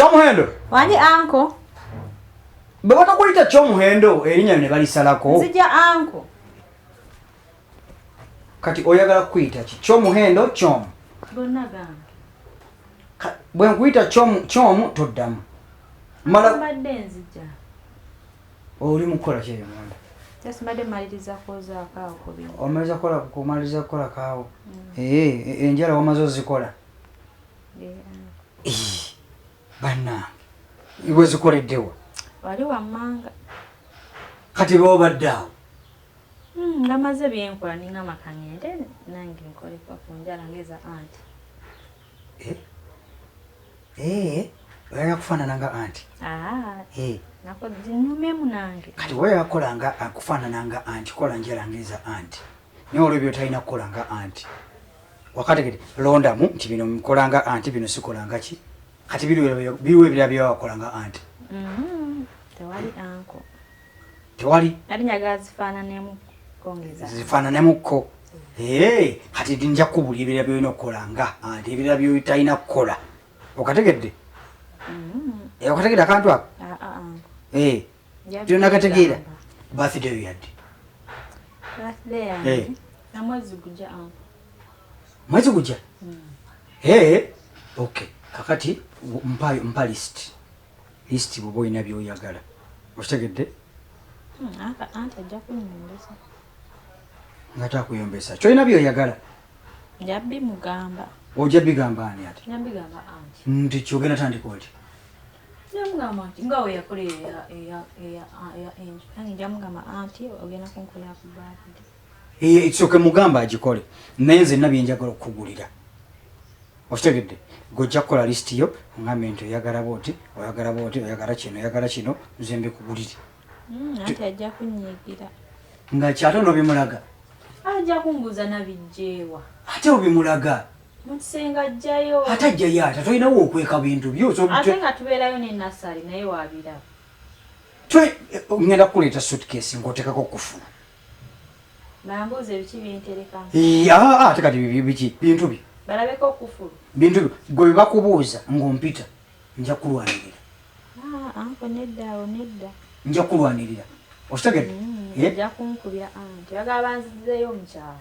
Kyomuhendo. Wani anko. Bwe batakulita kyomuhendo erinnya ne balisalako. Nzija anko. Kati oyagala kuyita ki? Kyomuhendo kyomu. Bonna gamba. Bwe nkuyita kyomu kyomu toddamu. Mala mbadde nzija. Oli mukola kye yamanda. Just mbadde maliriza koza akaawo kubi. Omaliza kola kumaliriza kola kaawo. Mm. Eh, eh enjala wamazo zikola. banange wezikoleddewa wali wammanga kati bobadde awo hmm, nga maze byenkola ninga makangende nange nkolekwa ku njala ngeza anti eh? Eh, oyagala kufaanana nga anti ah, eh. nyumemu nange kati wayagala kukola nga akufaanana nga anti kola njala ngeza anti naye olwo byotalina kukola nga anti wakategede londamu nti bino mukolanga anti bino sikolanga ki kati biriwo ebira byewawakolanga anti mm-hmm. tewali anko tewali zifaananemuko ee kati nja kubuli ebira byolina okukolanga anti ebira byotalina kukola okategedde mm-hmm. eh, okategedde akantu ako ah, ah, ah. ee eh, kyonakategeera birthday yo yadde eh. mwezi gujja hmm. eh, okay kakati mpa, mpa list list bwoba olina byoyagala okitegedde hmm, nga takuyombesa kyolina byoyagala ojja bigamba ani ati nti kyogenda tandika oti namugamba nti nga weyakola nange njamugamba anti ogenda kunkolera ku baabide eh, ekisooke mugamba agikole naye nze nabyenjagala okukugulira okitegedde gojja kukola lisiti yo ogambe nti oyagala booti oyagala booti oyagala kino oyagala kino nze mbikugulire hmm, anti ajja kunyigira nga kyate nobimulaga ajja kumbuuza nabijjeewa ate obimulaga Mukisenga ajjayo. Ate ajjayo ate tolinawo okweka bintu byo. Ate nga tubeerayo ne Nassali naye waabiraba. Eh, ngenda kukuleeta suitcase ng'oteekako okufuna. Bambuuza ebiki binterekamu. Yaa ate kati biki bintu byo. Balabeko okufulu. Bintu byo gwe bye bakubuuza ng'ompita nja kulwanirira. Ah, anko nedda awo nedda. Nja kulwanirira. Okitegedde? Mm, eh? Nja kunkubya anti. Bagala banzizeeyo omukyala.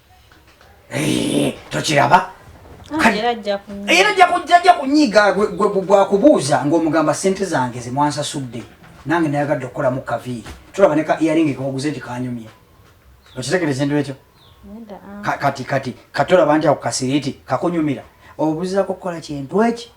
Eh, tokiraba ah, era ajja kujja ajja kunyiiga gwakubuuza ng'omugamba sente zange zemwansasudde nange nayagadde okukolamu kaviiri tulaba ne ka iaringi kewaguze nti kanyumye okitegereza endu ekyo ah. kati kati katolaba nti ako kasiriiti kakunyumira obuzako kukola kintu eki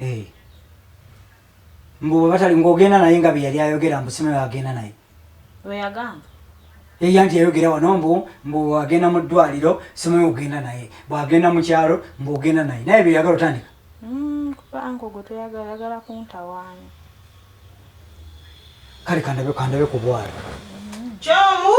Eh. Mbu bwe batali ng'ogenda naye nga bye yali ayogera mbu sinayo agenda naye. Lwe yagamba. Eya nti yayogera wano mbu mbu agenda mu ddwaliro simanyi ogenda naye bw'agenda mu kyalo mbu ogenda naye naye bye yagala otandika. Mm, kuba anko gwe toyagala yagala kuntawaanya. Kale kandabe kandabe ku bwalo. Kyomu.